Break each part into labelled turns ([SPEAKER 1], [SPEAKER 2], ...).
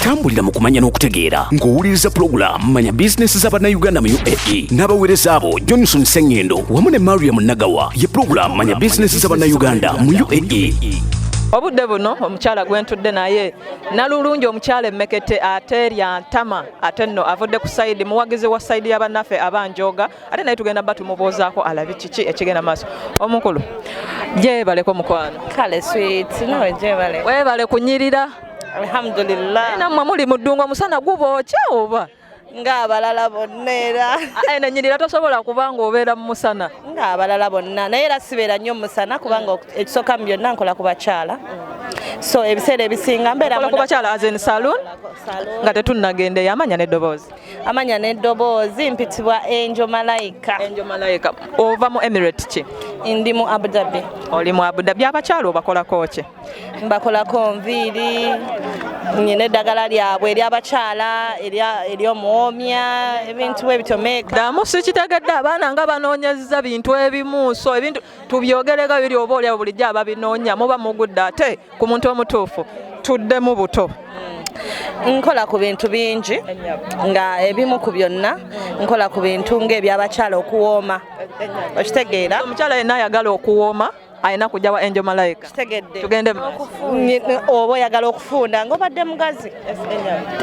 [SPEAKER 1] tambulira mu kumanya n'okutegeera ng'owuliriza pulogulaamu manya bizinensi za bannayuganda mu uae n'abaweereza abo johnson sengendo wamu ne mariam nagawa ye pulogulaamu manya bizinensi za bannayuganda mu uae obudde
[SPEAKER 2] buno omukyala gwentudde naye nalulungi omukyala emmekete ate lyantama ate nno avudde ku sayidi muwagizi wa sayidi ya bannaffe abanjooga ate naye tugenda ba tumubuuzaako alabi kiki ekigenda maaso omukulu gyebaleko mukwano kale sweet
[SPEAKER 3] nawe gyebale webale kunyirira
[SPEAKER 2] alhamdulillah
[SPEAKER 3] namwe muli muddungu
[SPEAKER 2] omusana gubookya oba ng'abalala
[SPEAKER 3] bonna era ah, eh, nenyirira tosobola
[SPEAKER 2] kuba ng'obeera mu musana ng'abalala bonna
[SPEAKER 3] naye era sibeera nnyo mu musana kubanga ekisooka mu byonna nkola ku bakyala so ebiseera ebisinga mbeera ku bakyala azen
[SPEAKER 2] saloon nga tetunnagenda eyamanya n'eddoboozi amanya n'eddoboozi
[SPEAKER 3] mpitibwa enjo malayika enjo malayika ova
[SPEAKER 2] mu emirate ki ndi mu abudabi
[SPEAKER 3] oli mu abudabi
[SPEAKER 2] abakyalo obakolako ki mbakolako
[SPEAKER 3] nviiri nyina eddagala lyabwe eryabakyala eryomuwomya ebintu bwe bityo meeka damu sikitegedde
[SPEAKER 2] abaana nga banoonyeza bintu ebimu so ebintu tubyogerega biri oba olyawo bulijjo ababinoonya muba mugudde ate ku muntu omutuufu tuddemu buto
[SPEAKER 3] nkola ku bintu bingi nga ebimu ku byonna nkola ku bintu ng'ebyabakyala okuwooma okitegeera omukyala yenna ayagala
[SPEAKER 2] okuwooma alina kujja wa angel malaika tugende
[SPEAKER 3] oba oyagala okufunda ngaobadde mugazi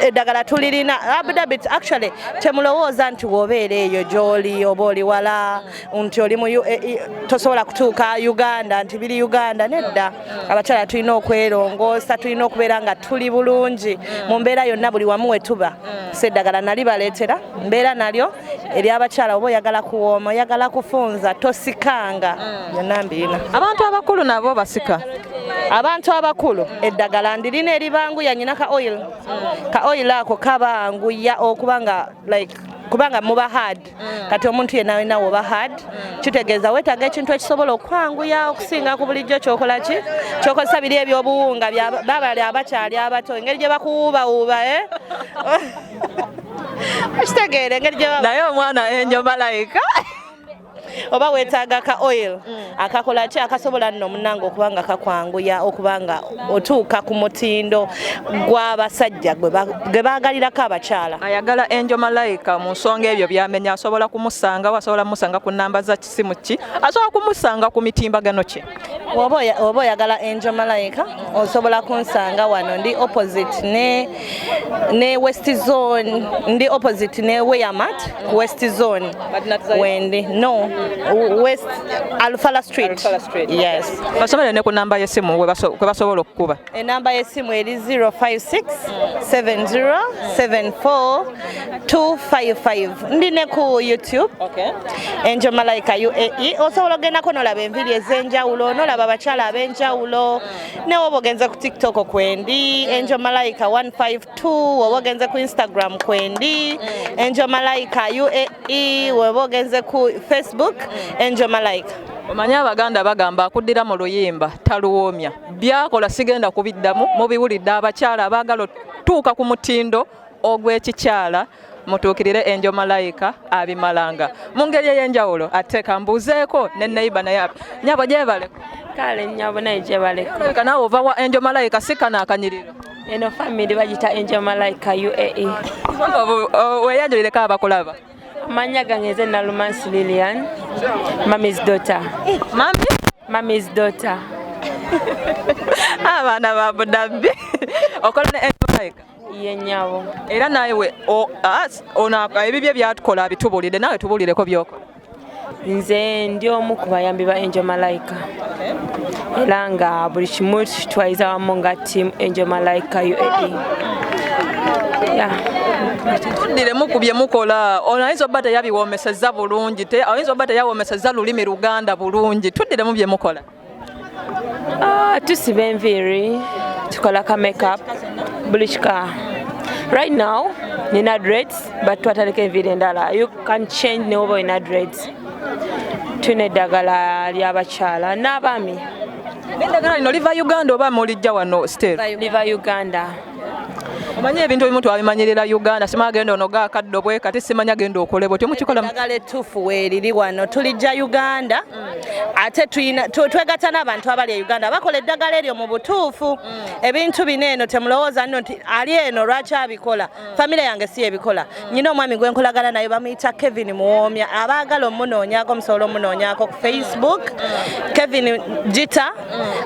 [SPEAKER 3] eddagala tulirina abdabit actually temulowooza nti wobeera eyo gyoli oba oli wala nti oli mu UAE tosobola kutuuka Uganda nti biri Uganda nedda abakyala tulina okwerongoosa tulina okubeera nga tuli bulungi mu mbeera yonna buli wamu wetuba seddagala nali baleetera mbeera nalyo eri abakyala oba oyagala kuwooma oyagala kufunza tosikanga byonna mbiina abantu abakulu nabo
[SPEAKER 2] basika abantu
[SPEAKER 3] abakulu eddagala ndirina eribanguya nyina ka oil ka oil ako kabanguya okuba nga like kubanga muba hard mm. kati omuntu yena alina woba hard mm. kitegeeza wetaaga ekintu ekisobola okwanguya okusinga ku bulijjo kyokola ki kyokozesa biri ebyobuwunga babali abakyali abato engeri gye bakuwuubawuuba e eh? kitegeera engeri naye omwana enjo
[SPEAKER 2] malayika
[SPEAKER 3] oba wetaaga ka oil mm. akakola ki akasobola nno munange okuba nga kakwanguya okuba nga otuuka ku mutindo gw'abasajja gwe baagalirako abakyala ayagala enjo
[SPEAKER 2] malayika mu nsonga ebyo byamenya asobola kumusangawo asobola kumusanga ku namba za kisimu ki asobola kumusanga ku mitimbagano kye oba
[SPEAKER 3] oyagala enjo malayika osobola kunsanga wano ndi opposite ne ne west zone ndi opposite ne weyamat ku west zone wendi no west alfala street yes basomere ne ku
[SPEAKER 2] namba y'essimu kwe basobola okukuba enamba y'essimu
[SPEAKER 3] eri 056 7074 255 ndi ne ku youtube okay.
[SPEAKER 2] enjo malaika
[SPEAKER 3] uae osobola ogendako nolaba enviri ez'enjawulo nolaba abakyala ab'enjawulo mm. ne woba ogenze ku tiktok kwendi enjo malaika 152 woba ogenze ku instagram kwendi enjo malaika uae woba ogenze ku facebook enjo malaika omanyi abaganda
[SPEAKER 2] bagamba akuddira mu luyimba taluwoomya byakola sigenda kubiddamu mubiwulidde abakyala abaagala otuuka ku mutindo ogw'ekikyala mutuukirire enjo malayika abimalanga mu ngeri ey'enjawulo ate kambuuzeeko ne neyiba naye nyabo gyebaleko kale nyabo
[SPEAKER 4] naye gyebaleko nawe ova wa enjo
[SPEAKER 2] malayika sikana akanyiriro eno family
[SPEAKER 4] bagita enjo malayika uae
[SPEAKER 2] weyanjulireko abakulaba amanya gange
[SPEAKER 4] nze nalumansi lilian mamis dota mamis dota
[SPEAKER 2] abaana ba budabbi okola ne enjo malayika ye nyabo
[SPEAKER 4] era nawe
[SPEAKER 2] ono ebibye byatukola abitubulire nawe tubulireko byokola nze
[SPEAKER 4] ndi omu ku bayambi ba angel malaika era nga buli kimu kitwaliza wamu nga team angel malaika uae
[SPEAKER 2] tuddire muku bye mukola ono ayinza oba teyabiwoomeseza bulungi ayinza oba teyawoomeseza lulimi luganda bulungi tuddiremu bye mukola Ah, tusiba
[SPEAKER 4] enviiri tukola ka makeup buli kika right now nina dreads but twataleka enviiri endala you can change newoba olina dreads tulina eddagala lyabakyala n'abaami endagala
[SPEAKER 2] lino liva uganda
[SPEAKER 4] oba
[SPEAKER 2] mulijja wano state liva uganda omanyi ebintu ebimu twabimanyirira uganda sima agenda ono gakaddo bwe kati simanya genda okolebwe temukikola eddagala ettuufu
[SPEAKER 3] weeriri wano tulijja uganda ate twegata n'abantu abali e uganda bakola eddagala eryo mu butuufu mm. ebintu bino eno temulowooza nno nti ali eno lwaki abikola mm. famire yange si ebikola mm. nyina omwami gwe nkolagana naye bamuyita kevin muwoomya abaagala omunoonyako musobola omunoonyako ku facebook kevin gita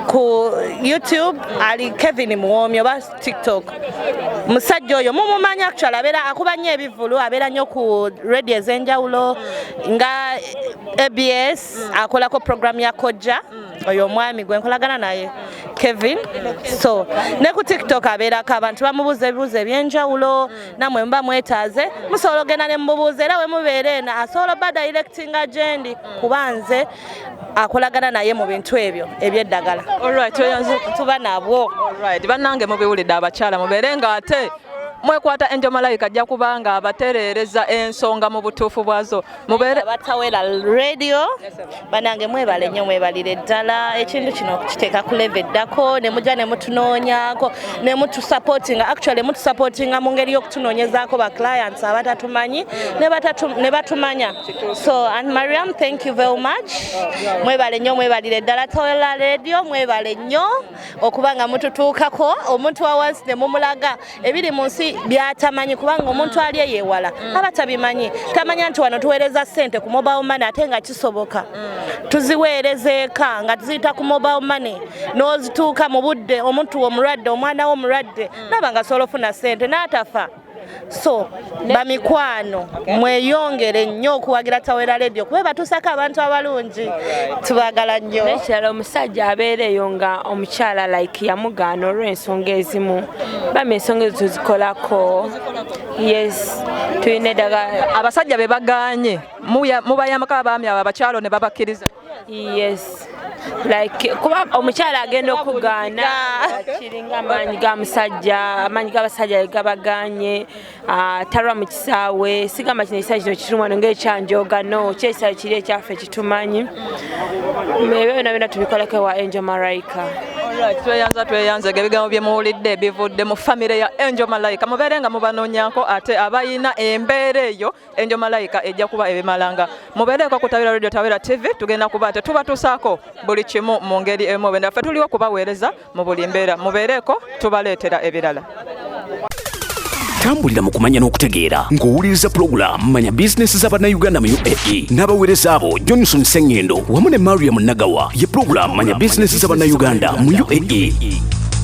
[SPEAKER 3] ku youtube ali kevin muwoomya oba tiktok musajja oyo mumumanya actual abeera akuba nnyo ebivulu abeera nnyo ku radio ez'enjawulo nga abs akolako program ya kojja oyo omwami gwe nkolagana naye kevin so ne ku tiktok abeerako abantu bamubuuza ebibuuzo ebyenjawulo namwe muba mwetaaze musobola ogenda ne mububuuza era wemubeera eno asobola oba directinga gyendi kuba nze akolagana naye mu bintu ebyo ebyeddagala tuba nabwo bannange
[SPEAKER 2] mubiwulidde abakyala mubeere nga ate mwekwata enjo malayika ajja kubanga abatereereza ensonga mu butuufu bwazo mubeerebatawera
[SPEAKER 3] radio banange mwebale nnyo mwebalire ddala ekintu kino okukiteeka ku leve eddako ne mujja ne mutunoonyako ne mutusapootinga actually mutusapootinga mu ngeri y'okutunoonyezaako ba clients abatatumanyi ne batumanya So Aunt Mariam, thank you very much. Mwebale nnyo mwebalire ddala Tola Radio mwebale nnyo okuba nga mututuukako omuntu wa wansi ne mumulaga ebiri mu nsi byatamanyi kubanga omuntu ali eyewala mm. aba tabimanyi tamanya nti wano tuweereza ssente ku mobile money ate nga kisoboka mm. tuziweereza eka nga tuziyita ku mobile money n'ozituuka mu budde omuntu omulwadde omwana wo omulwadde mm. naba nga sobola ofuna ssente n'atafa so bamikwano mweyongere nnyo okuwagira tawera ledio kuba batuusako abantu abalungi tubagala nnyo nekirala omusajja
[SPEAKER 4] abeereeyo nga omukyala like yamugaana olw'ensonga ezimu bama ensonga ezo tuzikolako yes tulina eddagala abasajja be bagaanye
[SPEAKER 2] mubayamako abaami abo abakyalo ne babakkiriza yes
[SPEAKER 4] like kuba omukyala agenda okugaana kiringa amaanyi ga musajja amaanyi g'abasajja gabaganye ah, talwa mu kisaawe sigamba kino ekisaawe kino kitumwano ngaekyanjoga no kyekisaawe kiri ekyaffe kitumanyi ebyo byona byona tubikoleko ewa angel maraika tweyanza
[SPEAKER 2] tweyanza ge ebigambo bye muwulidde bivudde mu famire ya angel malaika mubeere nga mubanonyako ate abalina embeera eyo enjo malayika ejja kuba ebimalanga mubeereko ku tawera radio tawera tv tugenda kuba nte tubatusaako buli kimu mu ngeri emu obenda ffe tuliwo kubaweereza mu buli mbeera mubeereko tubaleetera ebirala tambulira
[SPEAKER 1] mu kumanya n'okutegeera ng'owuliriza pulogulaamu manya bizinensi z'abannayuganda mu uae n'abaweereza abo johnson sengendo wamu ne mariam nagawa ye pulogulaamu manya bizinensi z'abannayuganda mu uae